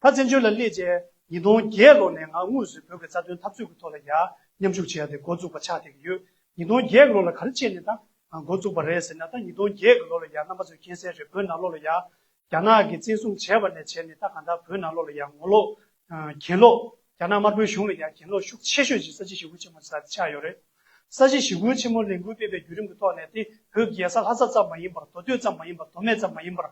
ད་བཙན་བྱོལ་ལ་སླེབས་རྗེས་ཉིས་སྟོང་བརྒྱད་ལོ་ནས་ང་དངོས་གཟུད་བོད་ཀྱི་རྩ་དོན་འཐབ་རྩོད་ཀྱི་ཐོག་ལ་ཡར་མཉམ་ཞུགས་བྱས་ཏེ་འགོ་བཙུགས་པ་ཆགས་བསྡད་ཀྱི་ཡོད། ཉིས་སྟོང་བརྒྱད་ལོ་ལ་ག་རེ་བྱས་ནས་ད་འགོ་བཙུགས་པ་རེད་ཟེར་ན་ད་ཉིས་སྟོང་བརྒྱད་ཀྱི་ལོ་ལ་ཡར་རྣམ་པ་ཚོས་མཁྱེན་གསལ་རེད་བོད་ནང་ལོགས་ལ་ཡར་རྒྱ་ནག་གིས་བཙན་བཟུང་བྱས་པ་ནས་བྱས་ནས་ད་གང་ལྟར་བོད་ནང་ལོགས་ལ་ཡར་ངོ་ལོག་གྱེན་ལོག་རྒྱ་ནག་དམར་པོའི་གཞུང་ལ་ཡར་གྱེན་ལོག་ཤུགས་ཆེ་ཤོས་ཀྱི་ས་བྱི་ཞི་རྒོལ་ཆེན་མོ་ཆགས་ཡོད་རེད། ས་བྱི་ཞི་རྒོལ་ཆེན་མོ་ལས་འགུལ་སྤེལ་པའི་བརྒྱུད་རིམ་གྱི་ཐོག་ནས་དེ་བོད་རྒྱལ་ས་ལྷ་ས་ཙམ་མ་ཡིན་པར་མདོ་སྟོད་ཙམ་མ་ཡིན་པར་མདོ་སྨད་ཙམ་མ་ཡིན་པར་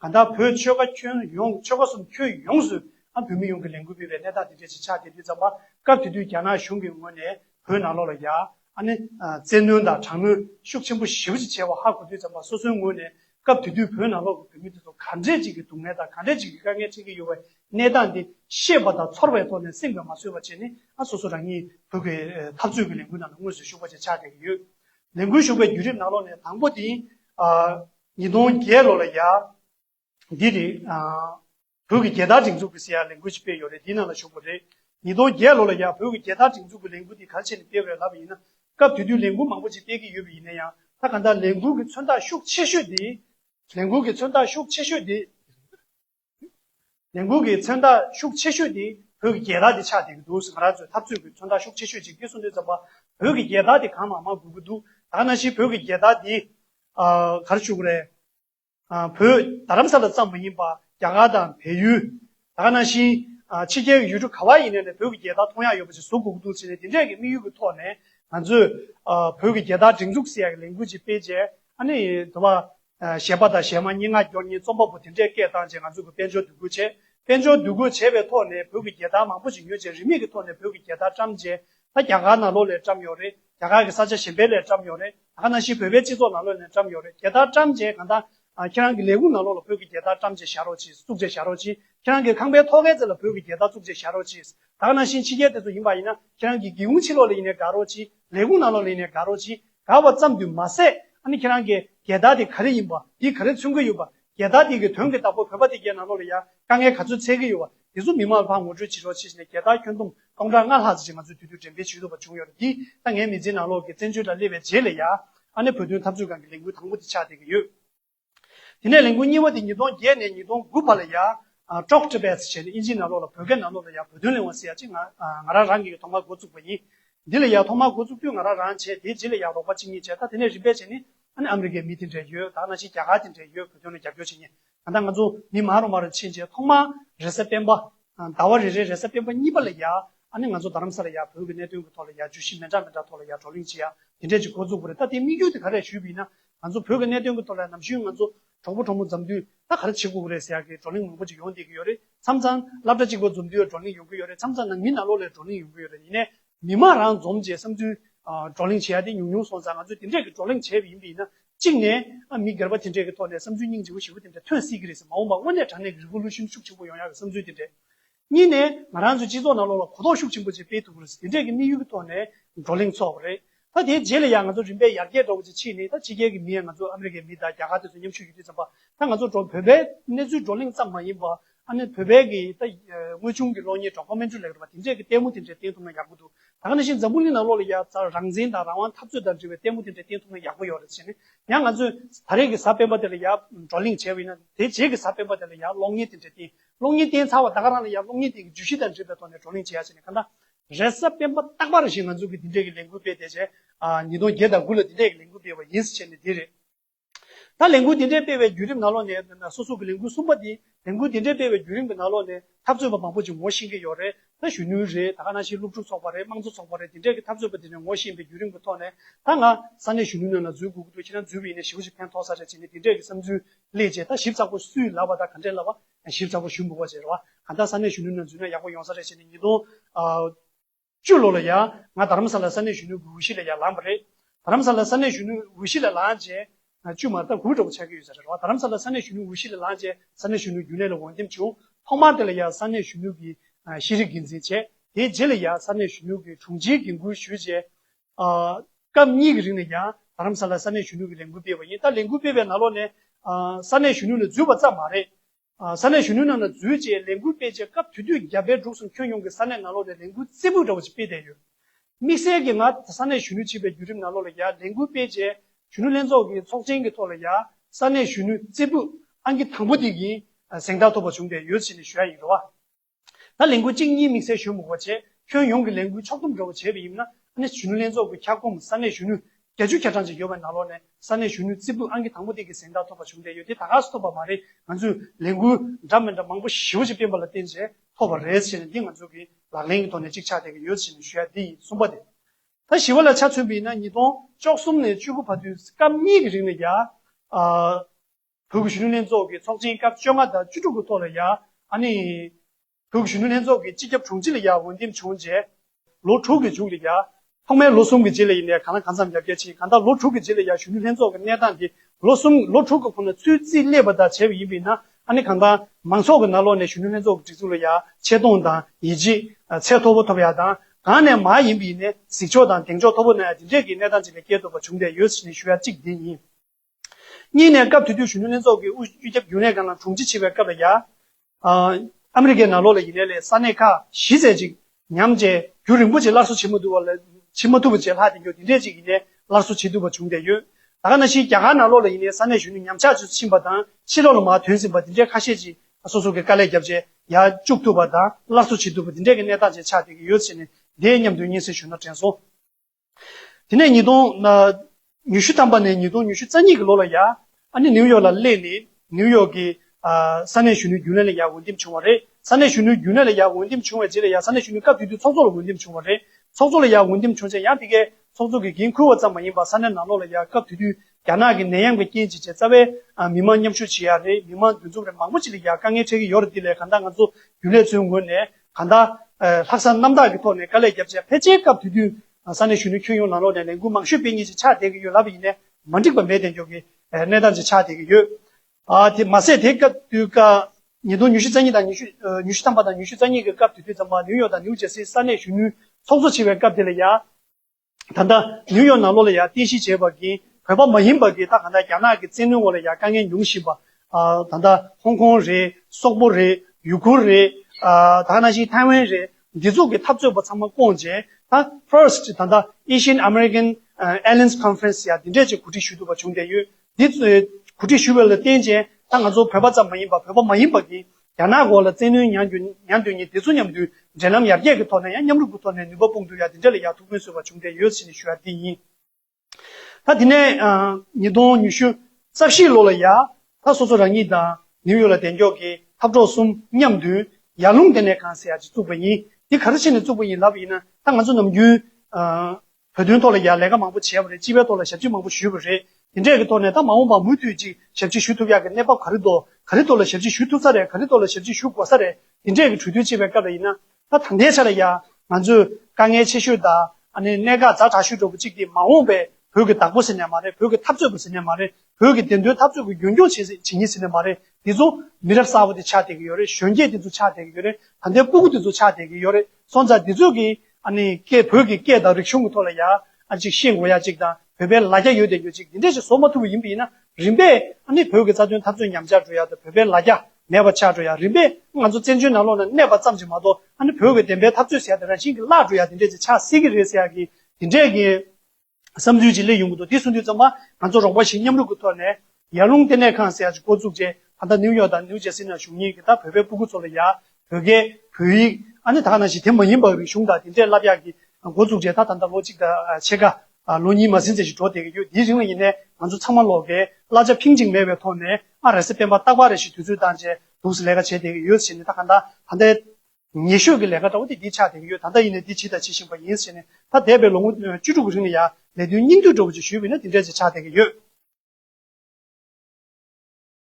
གང་དག་བོད་ཆོལ་ཁ་ཁྱོན་ཡོངས་ཆོལ་ཁ་གསུམ་ཁྱོན་ཡོངས་སུ་འམ་བོད་མི་ཡོངས་ཀྱི་ལས་འགུལ་སྤེལ་བའི་གནས་སྟངས་དེ་འབྲེལ་གྱི་ཕྱག་དེབ་འདི་བརྩམས་པ་སྐབས་དེ་དུས་རྒྱ་ནག་གཞུང་གི་ངོས་ནས་བོད་ནང་ལོག་ལ་ཡ་ཨ་ནི་བཙན་གནོན་དང་དྲག་གནོན་ཤུགས་ཆེན་པོ་ཞེ་བོ་ཅིག་བྱས་པ་ཧ་གོ་དུས་བརྩམས་པ་སོ་སོའི་ངོས་ནས་སྐབས་དེ་དུས་བོད་ནང་ལོག་གི་བོད་མི་དེ་ཚོ་ག་འདྲས་ཅིག་གི་སྡུག་བསྔལ་དང་ག་འདྲས་ཅིག་གི་དཀའ་ངལ་འཕྲད་ཀྱི་ཡོད་བའི་གནས་སྟངས་འདི་ཤེས་པ་དང་ཚོར་བའི་ཐོག་ནས་སེམས་ཀྱང་མ་བཟོད་པ་བྱས་ནས་ཨ་སོ་སོ་རང་ཉིད་བོད་ཀྱི་འཐབ་རྩོད་ཀྱི་ལས་འགུལ་ནང་ལ་དངོས་སུ་ཞུགས་པ་བཅས་ཕྱག་བྲལ་གྱི་ཡོད། ལས་འགུལ་ཞུགས་པའི་བརྒྱུད་རིམ་ནང་ལོག་ནས་དང་པོ་དེ་ཨ། ཉིས་སྟོང་བརྒྱད་ལོ་ལ་ཡག། འདི་རེད། བོད་ཀྱི་རྒྱལ་དར་སྒྲེང་འཛུགས་ཀྱི་ཟེར་ཡག་ལས་འགུལ་ཞིག་སྤེལ་ཡོད་རེད་འདི་ནང་ལ་ཞུགས་པ་རེད། ཉིས་སྟོང་བརྒྱད་ལོ་ལ་ཡག་བོད་ཀྱི་རྒྱལ་དར་སྒྲེང་འཛུགས་ཀྱི་ལས་འགུལ་འདི་ག་ཆེ་ནས་སྤེལ་བ་རེད་ལབ་པ་ཡིན་ན། སྐབས་དེ་དུས་ལས་འགུལ་མང་པོ་ཅིག་སྤེལ་གྱི་ཡོད་པ་ཡིན་ན་ཡང་ད་ག་འདྲ་ལས་འགུལ་གྱི་མཚོན་རྟགས་ཤུགས་ཆེ་ཤོས་དེ། ལས་འགུལ་གྱི་མཚོན་རྟགས་ཤུགས་ཆེ་ཤོས་དེ། ལས་འགུལ་གྱི་མཚོན་རྟགས་ཤུགས་ཆེ་ཤོས་དེ་བོད་ཀྱི་རྒྱལ་དར་དེ་ཆགས་བསྡད་ཀྱི་འདུག་སེམས་ར་ཚོས་འཐབ་རྩོད་ཀྱི་མཚོན་རྟགས་ཤུགས་ཆེ་ཤོས་ཅིག་དེ་གསུང་དོན་ཙམ་པ་བོད་ཀྱི་རྒྱལ་དར་དེ་གང་མང་མང་དགོས་ཀྱི་འདུག་ད་ང་ཤི་བོད་ཀྱི་རྒྱལ་དར་དེ་གར་བཞུགས་རེད། བོད་རྡ་རམ་ས་ལ་ཙམ་མ་ཡིན་པར་རྒྱ་གར་དང་བལ་ཡུལ། ད་ང་ཤི་ཕྱི་རྒྱལ་གྱི་ཡུལ་གྲུ་ག་བ་ཡིན་ན་ནས་བོད་ཀྱི་རྒྱལ་དར་མཐོང་ཡག་ཡོད་པ་ཅིག་བཟོ་དགོས་ཀྱི་འདུག་ཟེར་ནས་དེ་འདྲས་ཀྱི་དམིགས་ཡུལ་གྱི་ཐོག་ནས་ང་ཚོས་བོད་ཀྱི་རྒྱལ་དར་སྒྲེང་འཛུགས་སེ་ཡ་གྱི་ལས་འགུལ་ཅིག་སྤེལ་རྗེས་ཨ་ནི་དེ་བ་གཞས་པ་དང་གཞས་མ་གཉིས་སྔ་འགྱོགས་གཉིས་རྩོམ་པ་པོ་དེ་འདྲས་སྐད་བཏང་རྗེས་ང་ཚོས་དཔལ་འབྱོར་སྡུད་སྒུལ་བྱས། དཔལ་འབྱོར་སྡུད་སྒུལ་བྱས་པའི་ཐོག་ནས་བོད་ཀྱི་རྒྱལ་དར་མང་པོ་ཞིག་ཉོས་རྗེས་རིན་མེད་ཀྱི་ཐོག་ནས་བོད་ཀྱི་རྒྱལ་དར་བཀྲམ་རྗེས། ད་རྒྱ་གར་ནང་ལོགས་ལས་བཀྲམ་ཡོད་རེད། རྒྱ་གར་གྱི་ས་ཆ་གཞན་པའི་ལས་བཀྲམ་ཡོད་རེད། ད་ག་ནང་བཞིན་བོད་པའི་སྤྱི་ཚོགས་ནང་ལོགས་ནས་བཀྲམ་ཡོད་རེད། རྒྱལ་དར་བཀྲམ་རྗེས་གང་ལྟར། ཁྱེད་རང་གི་ལས་ཁུངས་ནང་ལོགས་ལ་བོད་ཀྱི་རྒྱལ་དར་བཀྲམ་རྗེས་བཞག་རོགས་གྱིས། བཙུགས་རྗེས་བཞག་རོགས་གྱིས། ཁྱེད་རང་གི་ཁང་པའི་ཐོག་ཁའི་རྩེ་ལ་བོད་ཀྱི་རྒྱལ་དར་བཙུགས་རྗེས་བཞག་རོགས་གྱིས། ད་ག་ནང་བཞིན་ཕྱི་རྒྱལ་དེ་ཚོ་ཡིན་པ་ཡིན་ན། ཁྱེད་རང་གི་སྒེའུ་ཁུང་ཕྱི་ལོགས་ལ་ཡིན་ནས་དགའ་རོགས་གྱིས། ལས་ཁུངས་ནང་ལོགས་ལ་ཡིན་ནས་དགའ་རོགས་གྱིས། དགའ་བ་ཙམ་དུས་མ་ཟད་ཨ་ནི་ཁྱེད་རང་གི་རྒྱལ་དར་དེ་ག་རེ་ཡིན་པ་འདིས་ག་རེ་མཚོན་གི་ཡོད་པ་རྒྱལ་དར་དེ་གི་དོན་གི་བདག་པོ་བོད་པ་དེ་རྒྱལ་ནང་ལོག་ལ་ཡར་དཀའ་ངལ་ག་ཚོད་འཚལ་གི་ཡོད་བ་དེ་ཚོ་མི་མང་ལ་ཕར་ངོ་སྤྲོད་བྱེད་ཆོག་ཕྱིས་ནས་རྒྱལ་དར་ཁྱོན་བསྡོམས་སྟོང་ཕྲག་ལྔ་ལྷག་ཟེར་བྱས་ང་ཚོས་དུས་དུས་འགྲེམས་སྤེལ་བྱེད་ཐུབ་པ་བྱུང་ཡོད་རེད་འདིས་ད་ངའི་མི་ཚེའི་ནང་ལོག་གི་བཙན་བྱོལ་ལ་སླེབས་པའི་རྗེས་ལས་ཡར་ཨ་ནི་བོད་དོན་འཐབ་རྩོད་ཁང་གི་ལས་འགུལ་དང་པོ་དེ་ཆགས་བསྡད་གི་ཡོད། དེ་ནས་ལས་འགུལ་གཉིས་པ་དེ་ཉིས་སྟོང་བརྒྱད་ནས་ཉིས་སྟོང་དགུ་བར་ལ་ཡ། Talk Tibets། བྱས་ནས་དབྱིན་ཇིའི་ནང་ལོགས་ལ་བོད་སྐད་ནང་ལོགས་ལ་ཡ་བོད་དོན་གླེང་བ་ཟེར་ཡག་ཅིག་ང་ང་རང་རང་གིས་ཐོག་མར་འགོ་བཙུགས་པ་ཡིན། འདི་ལ་ཡ་ཐོག་མར་འགོ་བཙུགས་དུས་ང་རང་རང་བྱས་དེ་རྗེས་ལ་ཡ་ལོག་པ་གཅིག་གཉིས་བྱས་ད་དེ་ནས་རིམ་པས་བྱས་ནས་ཨ་ནི་ཨ་མི་རི་ཀའི་མི་དེ་འདྲས་ཡོད་ད་ང་ཆེ་རྒྱ་གར་དེ་འདྲས་ཡོད་བོད་དོན་ལ་རྒྱབ་སྐྱོར་བྱེད་ངེས་ད་ད་ང་ཚོ་མི་མང་རུ་མང་རུ་ཕྱིན་རྗེས་ཐོག་མར་རེས་གཟའ་སྤེན་པ། ཟླ་བ་རེ་རེའི་རེས་གཟའ་སྤེན་པ་གཉིས་པ་ལ་ཡ། ཨ་ནི་ང་ཚོ་རྡ་རམ་ས་ལ་ཡ་བོད་ཀྱི་གནད་དོན་གྱི་ཐོག་ལ་ཡ་བརྗོད་གཞི་མི་འདྲ་མི་འདྲ་ཐོག་ལ་ཡ་བགྲོ་གླེང་བྱེད་ཡག་དེ་འདྲས་ཅིག་འགོ་བཙུགས་པ་རེད་ད་དེའི་དམིགས་ཡུལ་དེ་ག་རེ་ཞུས་བས་ན་ང་ཚོ་བོད་ཀྱི་གནད་དོན་གྱི་ཐོག་ལ་ནམ་ཞུས་ང་ཚོ་གྲོགས་པོ་གྲོགས་མོ་འཛམ་དུས་ད་ག་རེ་བྱེད་དགོས་ཀྱི་རེད་ཟེར་ཡག་གི་བགྲོ་གླེང་མང་པོ་ཅིག་ཡོང་བསྡད་ཀྱི་ཡོད་རེད་མཚམས་མཚམས་སླབ་གྲ་གཅིག་པོ་འཛོམས་དུས་བགྲོ་གླེང་ཡོང་གི་ཡོད་རེད་མཚམས་མཚམས་ནང་མི་ནང་ལོག་ལས་བགྲོ་གླེང་ཡོང་གི་ཡོད་རེད་ཡིན་ནའི་མི་མང་རང་འཛོམས་བཅས་བསམ་ཚུལ་བགྲོ་གླེང་བྱེད་ཡག་དེ་ཉུང་ཉུང་སོང་ཙང་ང་ཚོས་དེ་འདྲས་ཀྱི་བགྲོ་གླེང་བྱས་པ་ཡིན་པ་ཡིན་ན་གཅིག་ནས་ཨ་མི་སྒེར་པ་དེ་འདྲས་ཀྱི་ཐོག་ནས་བསམ་ཚུལ་སྙིང་རྗེ་བོ་ཞེ་བོ་དེ་འདྲས་ཐོན་སྲིད་ཀྱི་རེད་ཟེར་མ་འོངས་པ་དངོས་གནས་དྲང་གནས་ཀྱི་རི་བོ་ཀླུ་ཤིན་ཤུགས་ཆེན་པོ་ཡོང་ཡག་གི་བསམ་ཚུལ་དེ་འདྲས་གཉིས་ནས་ང་རང་ཚོའི་སྤྱི་ཚོགས་ནང་བློ་ལ་གོ་རྟོགས་ཤུགས་ཆེན་པོ་བཅས་སྤེལ་ཐུབ་པ་རེད་ཟེར། དེ་འབྲེལ་གྱི་དམིགས་ཡུལ་གྱི་ཐོག་ནས་བགྲོ་གླེང་ཚོགས་པ་རེད། ད་དེའི་རྗེས་ལ་ཡང་ང་ཚོ་རིམ་པས་ཡར་རྒྱས་འགྲོ་བ་བཅས་ཕྱིན་ནས་ད་ཕྱི་རྒྱལ་གྱི་མི་ཡང་ང་ཚོ་ཨ་མི་རི་ཀའི་མི་དང་རྒྱ་གར་དེ་ཚོ་མཉམ་ཞུགས་ཡོད་དུས་ཙམ་པ་ད་ང་ཚོ་བོད་པའི་གནས་ཚུལ་བགྲོ་གླེང་ཙམ་མ་ཡིན་པ་ཨ་ནི་བོད་པའི་གི་ད་དངོས་བྱུང་གི་གློག་བརྙན་གྲོགས་པོ་མན་ཇུ་ལེགས་རེད་པ་དེ་འབྲེལ་གྱི་ལྟད་མོ་དེ་འདྲས་བསྟན་ཐུབ་ན་ཡག་པོ་འདུག་ད་ག་ནས་ཤིག་འཛམ་བུ་གླིང་ནང་བློ་ལ་ཡ་མཚར་རང་བཙན་དང་རང་དབང་འཐབ་རྩོད་དང་འབྲེལ་བའི་ལྟད་མོ་དེ་འདྲས་བསྟན་ཐུབ་ན་ཡག་པོ་ཡོད་རེད་བྱས་ནས་ཡང་ང་ཚོས་ད་རེས་གི་གཟའ་སྤེན་པ་དེ་ལ་ཡར་བགྲོ་གླེང་བྱས་པ་ཡིན་ན་དེའི་རྗེས་ཀྱི་གཟའ་སྤེན་པ་དེ་ལ་ཡང་གློག་བརྙན་དེ་འདྲས་བསྟན་གློག་བརྙན་བསྟན་ཚར་བ་དག་ག་རང་ལ་ཡང་གློག་བརྙན་སྟེང་གི་བརྗོད་གཞི་དང་འབྲེལ་བའི་ཐོག་ནས་བགྲོ་གླེང་བྱེད་ཡ་བྱས་ནས་ག་འདྲ། རེད་ས་སྤེན་པ་རྟག་པར་ཞིག་ང་ཚོ་གི་འདི་འདྲས་ཀྱི་ལས་འགུལ་སྤེལ་བསྡད་རྗེས་ཉིས་སྟོང་བརྒྱད་དང་དགུ་ལ་འདི་འདྲས་ཀྱི་ལས་འགུལ་སྤེལ་བ་ཡིན་ཟེར་བྱས་ནས་དེ་རེད། ད་ལས་འགུལ་འདི་འདྲས་སྤེལ་བའི་བརྒྱུད་རིམ་ནང་ལོག་ནས་ན་སོ་སོ་གི་ལས་འགུལ་གསུམ་པ་འདི་ལས་འགུལ་འདི་འདྲས་སྤེལ་བའི་བརྒྱུད་རིམ་གི་ནང་ལོག་ནས་འཐབ་རྩོད་པ་མང་པོ་ཅིག་ངོ་ཤེས་མཁན་ཡོད་རེད་ད་གཞོན་ནུའི་རེད་ད་ག་ནང་བཞིན་སློབ་ཕྲུག་ཚོགས་པ་རེད་དམངས་གཙོ་ཚོགས་པ་རེད་འདི་འདྲས་ཀྱི་འཐབ་རྩོད་པ་འདི་འདྲས་ངོ་ཤེས་པའི་བརྒྱུད་རིམ་གི་ཐོག་ནས་ད་ང་ས་གནས་གཞོན་ནུ་རྣམས་ལ་འཛུལ་དགོས་ཀྱི་འདུག་ཁྱེད་རང་འཛུལ་བ་ཡིན་ན་ཞི་བ་ཞིག་ཕན་ཐོགས་ས་རེད་བྱས་ནས་འདི་འདྲས་ཀྱི་བསམ་ཚུལ་ལས་བྱེད་ལྟ་ཞིབ་ཚགས་པོ་སུས་ལབ་པ་དང་ག་འདྲས་ལབ་པ། ལྟ་ཞིབ་ཚགས་པོ་ཞུ་འབུལ་བ་བྱས་ར་བ། གང་ལྟར་ས་གནས་གཞོན་ནུའི་ནང་འཛུལ་ན་ཡག་པོ་ཡོང་ས་རེད་བྱས་ནས་ཉིས་སྟོང་དང་བཅུ་ལོ་ལ་ཡང་ང་དྷ་རམ་ས་ལ་ས་གནས་གཞོན་ནུའི་འོས་གཞི་ལ་ཡང་ལངས་པ་རེད། དྷ་རམ་ས་ལ་ས་གནས་གཞོན་ནུའི་འོས་གཞི་ལ་ལངས་རྗེས་ང་བཅུ་མ་ལྟ་དགུ་འདྲ་པོ་ཆགས་ཀྱི་ཡོད་ས་རེད་ར་བ། དྷ་རམ་ས་ལ་ས་གནས་གཞོན་ནུའི་འོས་གཞི་ལ་ལངས་རྗེས་ས་གནས་གཞོན་ནུའི་རྒྱུན་ལས་ལ་འོས་འདེམས་བྱུང། ཐོག་མར་དེ་ལ་ཡང་ས་གནས་གཞོན་ནུ་གིས་ཤེས་རིག་འགན་འཛིན་བྱས། དེའི་རྗེས་ལ་ཡང་ས་གནས་གཞོན་ནུ་གིས་དྲུང་ཆེའི་འགན་ཁུར་ཞུས་རྗེས། སྐབས་གཉིས་ཀྱི་རིང་ནས་ཀྱང་རྡ་རམ་ས་ལར་ས་གནས་གཞོན་ནུ་ཀྱི་ལས་འགུལ་སྤེལ་བ་ཡིན་ད་ལས་འགུལ་སྤེལ་བའི་ནང་ལོགས་ནས་ས་གནས་གཞོན་ནུ་ནས་འཛུལ་བ་ཙམ་མ་རེད། ས་གནས་གཞོན་ནུ་རྣམས་ལ་འཛུལ་རྗེས་ལས་འགུལ་སྤེལ་རྗེས་སྐབས་དུས་དུས་རྒྱ་བལ་འབྲུག་གསུམ་ཁྱོན་ཡོངས་ཀྱི་ས་གནས་ནང་ལོགས་ནས་ལས་འགུལ་རྩེད་འབུད་འདྲ་བོ་ཞིག་སྤེལ་བསྡད་ཡོད། དམིགས་བསལ་གྱིས་ང་ས་གནས་གཞོན་ནུ་བྱས་པའི་བརྒྱུད་རིམ་ནང་ལོགས་ལ་ཡང་ལས་འགུལ་སྤེལ་རྗེས་གཞོན་ནུ་ལྷན་ཚོགས་ཀྱི་ཚོགས་ཆེན་གྱི་ཐོག་ལ་ཡང་ས་གནས་གཞོན་ནུ་རྩེད་འབུད་ཨང་ཀི་དང་པོ་དེ་ཡིན་གཟེངས་རྟགས་ཐོབ་པ་བྱུང་བསྡད་ཡོད་ཅེས་ནས་ཞུ་ཡག་ཡིན་རེད་བ། ད་ལས་འགུལ་གཅིག་གཉིས་དམིགས་བསལ་གཞོན་མགོ་བ་ཆེ་ཁྱོན་ཡོངས་ཀྱི་ལས་འགུལ་ཕྱོགས་བསྡོམས་འགྲོ་བ་བྱས་པ་ཡིན་ན་ཨ་ནེ་གཞོན་ནུ་ལྷན་ཚོགས་ཀྱི་འཁྱགས་གོམ་ས་གནས་གཞོན་ནུ་བརྒྱ་ཅུ་གྱ་གྲངས་ཅིག་ཡོད་པ་ནང་ལོགས་ནས་ས་གནས་གཞོན་ནུའི་རྩིས་འབུལ་ཨང་ཀི་དང་པོ་སྟེང་གི་གཟེངས་རྟགས་ཐོབ་པ་བྱུང་བསྡད་ཡོད་དེ་ད་ག་ས་ཐོབ་པ་མ་རེད་ང་ཚོས་ལས་འགུལ་འདྲ་མི་འདྲ་མང་པོ་ཞེ་བོ་ཅིག་སྤེན་པ་ལ་བརྟེན་བྱས་ཐོབ་པ་རེད་ཞེས་ནས་འདི་ང་ཚོ་གི་ལག་ལེན་གྱི་ཐོག་ནས་ཅིག་ཆགས་བསྡད་ཀྱི་ཡོད་ཞེས་ནས་ཞུ་ཡ་འདི་ཡིན་གསུངས་པ་དེ་ད་ཞི་བ་ལ་ཆ་མཚོན་པ་ཡིན་ན་ཉིས་སྟོང་བཅོ་གསུམ་ནས་བཅུ་དགུ་བར་དུས་སྐབས་གཉིས་ཀྱི་རིང་ནས་རྒྱ་བོད་གཞོན་ནུ་ལྷན་ཚོགས་ཀྱི་ཚོགས་ཆེན་སྐབས་བཅོ་ལྔ་དང་བཅུ་དྲུག་གི་ཐོག་ལ་ཡ་ཨ་ནི། བོད་གཞོན་ནུ་ལྷན་ཚོགས་ཀྱི་སྤྱི་ཁྱབ་དྲུང་ཆེ་ལ་ཡ་འོས་འདེམས་བྱུང་རྗེས། ལོ་དྲུག་གི་མཇུག་ལ་ཡ། ཐོག་མའི་ལོ་གསུམ་གྱི་རྗེས་ལ་ཡི་ནས་གང་ལ་གང་འཚམ་ཡར་རྒྱས་ཕྱིན་གང་ལྟར་ལོ་དྲུག་གི་རྗེས་ལ་ཡ་གཞོན་ནུ་ལྷན་ཚོགས་ཀྱི་གནས་སྟངས་དེ་ལོ་གསུམ་ལོ་དྲུག་གི་གོང་ན་ཚུད་རྩིས་སླེབས་པ་ལྟར་བྱས་པ་ཡིན་པས་ན་ཨ་ནི་གང་ལྟར་མང་ཚོགས་ཀྱི་ནང་ལོགས་ནས་གཞོན་ནུ་ལྷན་ཚོགས་ཀྱི་སྒྲིག་འཛུགས་ལ་ཡ་ཆེ་མཐོང་དང་ཡིད་ཆེས་ཚད་མཐོ་པོ་ཐོབ་ཡ་དང་གང་ནས་མ་ཡིན་པ་ཡི་ནས་གཟིགས་ཕྱོགས་དང་གདེང་འཇོག་མཐོ་པོ་གནང་ཡ་དེ་འདྲས་ཀྱི་གནས་སྟངས་ཅིག་ལ་སྐྱེལ་ཐུབ་པ་བྱུང་བས་ཡོད་ཞེས་ཞུ་ཡ་གཅིག་དེ་ཡིན། གཉིས་ནས་སྐབས་དེ་དུས་གཞོན་ནུ་ལྷན་ཚོགས་ཀྱི་དབུས་གཡུལ་རྒྱབ་རྒྱུན་ལས་ཁང་ལ་དྲུང་ཆེ་བྱེད་པའི་སྐབས་ལ་ཡཱ། ཨ་མི་རི་ཀའི་ནང་ལོགས་ལ་ཡིན་ལས་ལས་ས་གནས་ཁག་བཞི་བཙལ་ཅིང་ཉམས་བཅད་རྒྱུ་རིང་པོ་ཆེ་སླར་གསོ་བྱེད་མ་ཐུབ་པ་བྱེད་མ་ཐུབ་པ་བྱས་ལྷག་དེ་མགྱོགས་དེ་འདྲས་ཅིག་ཡིན་ནས་སླར་གསོ་བྱེད་ཐུབ་པ་བྱུང་བསྡད་ཡོད། ད་ག་ན་ཕྱིའི་རྒྱ་གར་ནང་ལོགས་ལ་ཡིན་ལས་ས་གནས་གཞོན་ནུ་ཉམས་ཆག་ཕྱིན་པ་དང་ཕྱི་ལོགས་ལ་མ་དོན་ཟིན་པ་དེ་འདྲས་ཁ་ཤས་ཀྱིས་སོ་སོ་གི་དཀའ་ལས་བརྒྱབ་རྗེས་ཡཱ་བཅུག་ཐུབ་པ་དང་སླར་གསོ་བྱེད་ཐུབ་པ་དེ་འདྲས་ཀྱི་གནས་སྟངས་བཅས་ཆགས་བསྡད་ཀྱི་ཡོད་ཟེར་ནས་བསྡད་སྙམ་དུ་སྙན་སེང་ཞུ་ན་དྲན་སོང། དེ་ནས་ཉིས་སྟོང་ཉི་ཤུ་ཐམ་པ་ནས་ཉིས་སྟོང་ཉི་ཤུ་རྩ་གཉིས་ཀྱི་ལོ་ལ་ཡཱ་ཨནི་ནིའུ་ཡོག་ལ་སླེབས་ནས་ནིའུ་ཡོག་གི་ས་གནས་གཞོན་ནུའི་རྒྱུན་ལས་ལ་ཡཱ་འོས་འདེམས་བྱུང་བ་རེད། ས་གནས་གཞོན་ནུའི་རྒྱུན་ལས་ལ་ཡཱ་འོས་འདེམས་བྱུང་བའི་རྗེས་ལ་ཡཱ་ས་གནས་གཞོན་ནུའི་སྐབས་དེ་དུས་ཚོགས་གཙོ་ལ་འོས་འདེམས་བྱུང་བ་རེད། ཚོགས་གཙོ་ལ་ཡཱ་འོས་འདེམས་བྱུང་རྗེས་ཡང་དེ་གའི་ཚོགས་གཙོ་གི་འགན་ཁུར་བ་ཙམ་མ་ཡིན་པར་ས་གནས་ནང་ལོགས་ལ་ཡཱ་སྐབས་དེ་དུས་རྒྱ་ནག་གི་ནད་ཡམས་ཀྱི་རྐྱེན་གྱིས་བྱས་རྩ་བའི་མི་དམངས་མཉམ་ཞུགས་བྱེད་ཡ་རེད་མི་དམངས་འདུ་འཛོམས་རེད་མང་པོ་ཅི་ལ་ཡཱ་དཀའ་ངལ་འཕྲད་ཀྱི་ཡོད་རེད་འདི་ལས་གང་ལྟར་ང་ཚོ་རྒྱུན་ལས་ཚོའི་ངོས་ནས་གང་དག། ལྷག་བསམ་རྣམ་དག་གི་ཐོག་ནས་དཀའ་ལས་བརྒྱབ་བྱས་ཕལ་ཆེར་སྐབས་དེ་དུས། ས་གནས་གཞོན་ནུ་ཁྱོན་ཡོངས་ནང་ལོགས་ནས་ལས་འགུལ་མང་ཤོས་སྤེལ་ངེས་ཀྱི་ཆགས་བསྡད་ཀྱི་ཡོད་ལབ་པ་ཡིན་ནས་མ་འགྲིག་པ་མེད་བདེན་འགྱོག་གི་གནས་སྟངས་ཅིག་ཆགས་བསྡད་ཀྱི་ཡོད། དེ་མ་ཟད་དེ་སྐབས་དུས་སྐབས། ཉིས་སྟོང་ཉི་ཤུ་རྩ་གཉིས་དང་ཉི་ཤུ་ཐམ་པ་དང་ཉི་ཤུ་རྩ་གཉིས་ཀྱི་སྐབས་དེ་དུས་ཙམ་པ་ནིའུ་ཡོག་དང་ནིའུ་ཇེར་སིའི་ས་གནས་གཞོན་ནུའི་ཚོགས་གཙོ་ཆེ་བའི་སྐབས་དེ་ལ་ཡ། ད་ལྟ་ནིའུ་ཡོག་ནང་ལོག་ལ་ཡང་རྟེན་གཞི་བྱས་པར་གྱིན་བོད་པ་མ་ཡིན་པར་གྱིས་ད་ག་ནང་རྒྱ་ནག་གི་བཙན་གནོན་འོག་ལ་ཡང་དཀའ་ངལ་མྱོང་བཞིན་པ། ད་ལྟ་ཧོང་ཀོང་རེད་སོག་པོ་རེད་ཡུ་གུར་རེད་ད་ག་ནང་བཞིན་ཐའེ་ཝན་རེད་འདི་ཚོགས་ཀྱི་འཐབ་རྩོད་པ་ཚང་མ་བསྐོངས་རྗེས་ད First ད་ལྟ Asian American Alliance Conference ཡང་འདི་འདྲས་ཅིག་གོ་སྒྲིག་ཞུ་ཐུབ་པ་བྱུང་བསྡད་ཡོད་འདི་གོ་སྒྲིག་ཞུ་བའི་ལ་རྟེན་ཅན་ད་ང་ཚོ་བོད་པ་ཙམ་མ་ཡིན་པར་བོད་པ་མ་ཡིན་པར་གྱིས་རྒྱ་ནག་འོག་ལ་བཙན་གནོན་མྱང་རྒྱུ་མྱང་འདོད་ཉིད་དེ་ཚོ་མཉམ་འདུས་འབྲེལ་ལམ་ཡར་རྒྱས་ཀྱི་ཐོག་ནས་ཡང་མཉམ་རུབ་ཀྱི་ཐོག་ནས་ནུས་པ་སྤུངས་འདུག་ཡ་དེ་འདྲ་ལས་ཡག་ཐུགས་ཕན་སོས་པ་བྱུང་བསྡད་ཡོད་ཟེར་ནས་ཞུ་བ་འདི་ཡིན། ད་དེ་ནས་ཉིས་སྟོང་ཉི་ཤུ་རྩ་བཞི་ལོ་ལ་ཡ་ད་སོ་སོ་རང་ཉིད་དང་ནིའུ་ཡོག་ལ་བདེ་མགྱོགས་ཀྱི་འཐབ་གྲོགས་གསུམ་མཉམ་འདུས་ཡར་ལུང་དེ་ནས་གང་ཟེར་ཡ་ཅིག་བཙུགས་པ་ཡིན་འདི་ག་རེ་བྱས་ནས་བཙུགས་པ་ཡིན་ལབ་པ་ཡིན་ན་ད་ང་ཚོ་ནམ་རྒྱུན་བོད་དོན་ཐོག་ལ་ཡང་ལས་ཀ་མང་པོ་བྱས་པ་རེད་སྤྱི་པའི་ཐོག་ལ་ཞབས་ཕྱི་མང་པོ་ཞུས་པ་རེད་དེ་འདྲས་ཀྱི་ཐོག་ནས་ད་མ་འོངས་པར་མུ་མཐུད་ཅིག་ཞབས་ཕྱི་ཞུ་ཐུབ་ཡག་གི་གནས་བབ་ག་རེ་འདུག་ག་རེ་ཐོག་ལ་ཞབས་ཕྱི་ཞུ་ཐུབ་ས་རེད་ག་རེ་ཐོག་ལ་ཞབས་ཕྱི་ཞུ་དགོས་ས་རེད་དེ་འདྲས་ཀྱི་གྲོས་བསྡུར་བྱེད་པའི་སྐབས་ལ་ཡིན་ན་ད་ད་ལྟའི་ཆ་ལ་ཡང་ང་ཚོས་དཀའ་ངལ་ཆེ་ཤོས་དང་ཨ་ནེ་གནད་འགག་རྫ་དྲག་ཤོས་འགྲོ་བ་གཅིག་དེ་མ་འོངས་པའི་བོད་ཀྱི་བདག་པོ་ཟེར་ནས་མ་རེད་བོད་ཀྱི་འཐབ་རྩོད་པ་ཟེར་ནས་མ་རེད་བོད་ཀྱི་བདེན་དོན་འཐབ་རྩོད་པ་རྒྱུན་སྐྱོང་བྱེད་བྱེད་མཁན་ཟེར་ནས་མ་རེད་དེ་ཚོ་མི་རབས་གསར་བ་དེ་ཆགས་བསྡད་ཀྱི་ཡོད་རེད་གཞོན་སྐྱེས་དེ་ཚོ་ཆགས་བསྡད་ཀྱི་ཡོད་རེད་ད་ལྟའི་སྤུ་གུ་དེ་ཚོ་ཆགས་བསྡད་ཀྱི་ཡོད་རེད་སོང་ཙང་དེ་ཚོས་ཀྱིས་ཨ་ནི་སྐད་བོད་ཀྱི་སྐད་དང་རིག་གཞུང་གི་ཐོག་ལ་ཡ་ཨ་ཅིག་ཤེས་དགོས་ཡ་ཅིག་དང་བོད་པའི་ལ་རྒྱ་ཡོད་དེ་ཡོད་ཅིག་འདི་འདྲས་ཤིག་བཟོ་མ་ཐུབ་པ་ཡིན་པ་ཡིན་ན་རིམ་པས་ཨ་ནི་བོད་ཀྱི་རྩ་དོན་འཐབ་རྩོད་ཉམས་ཆག་འགྲོ་ཡ་དང་བོད་པའི་ལ་རྒྱ་མེད་པ་ཆག་འགྲོ་ཡ་རིམ་པས་ང་ཚོ་བཙན་བྱོལ་ནང་ལོགས་ན་གནས་པ་ཙམ་གྱིས་མ་གཏོགས་ཨ་ནི་བོད་ཀྱི་བདེན་པའི་འཐབ་རྩོད་ཟེར་ཡ་དེ་རང་བཞིན་གྱིས་བརླག་འགྲོ་ཡ་དེ་འདྲས་ཅིག་ཆག་སྲིད་ཀྱི་རེད་ཟེར་ཡ་གིས་དེ་འདྲས་ཀྱི། བསམ་ཚུལ་གྱི་གླེང་ཡོང་གི་འདུག་དེ་གསུངས་དུས་ཙམ་མ་ང་ཚོ་རོགས་པ་ཞིག་མཉམ་རུབ་ཀྱི་ཐོག་ནས། ཡར་ཀླུང་ལྟེ་གནས་ཁང་ཟེར་ཡག་ཅིག་སྐོར་བཙུགས་རྗེས་ད་ལྟ་ནིའུ་ཡོག་དང་ནིའུ་ཇེར་སི་ནང་བཞུགས་ཉིན་གྱི་ད་བོད་པའི་སྤུ་གུ་ཚོ་ལ་ཡ། བོད་སྐད། བོད་ཡིག། ཨ་ནི་དག་ན་ཞིག་དེ་མ་ཡིན་པར་རིག་གཞུང་དང་དེ་འདྲའི་རླབས་ཡག་གི། འགོ་བཙུགས་རྗེས་ད་ད་ལྟ་ལོ་གཅིག་དང་ཕྱེད་ཀ། ལོ་གཉིས་མ་ཟིན་ཟིན་ཞིག་འགྲོ་བསྡད་ཀྱི་ཡོད་དེའི་རིང་ལ་ཡིན་ནའི་ང་ཚོ་ཚང་མ་ལོག་སྟེ། གླ་ཆ་ཕིང་ཅིག་མེད་པའི་ཐོག་ནས་ཨ་རེ་སེ་སྤེན་པ་སྟག་ལྤགས་རེ་ཞིག་དུས་ཚོད་བཏང་རྗེས་འདུག་སེ་ལས་ཀ་བྱས་བསྡད་ཀྱི་ཡོད་ཟེར་ནས་ད་ག་འདྲ་ད་ལྟའི། ཉེ་ཤོས་ཀྱི་ལས་ཀ་འདྲ་བོ་དེ་འདིའི་ཕྱག་འདེབས་ཀྱི་ཡོད་ད་ལྟ་ཡིན་ནས་འདི་བྱས་དང་བྱེད་བཞིན་པ་ཡིན་ཟེར་ནས་ཐ་དད་པའི་ལོ་ངོ་བཅུ་དྲུག་གི་རིང་ལ་ཡང་ལས་དོན་སྙིང་བསྡུས་འགྲོ་བོ་ཅིག་ཞུས་དགོས་ན་འདི་འདྲས་ཀྱི་ཕྱག་འདེབས་ཀྱི་ཡོད།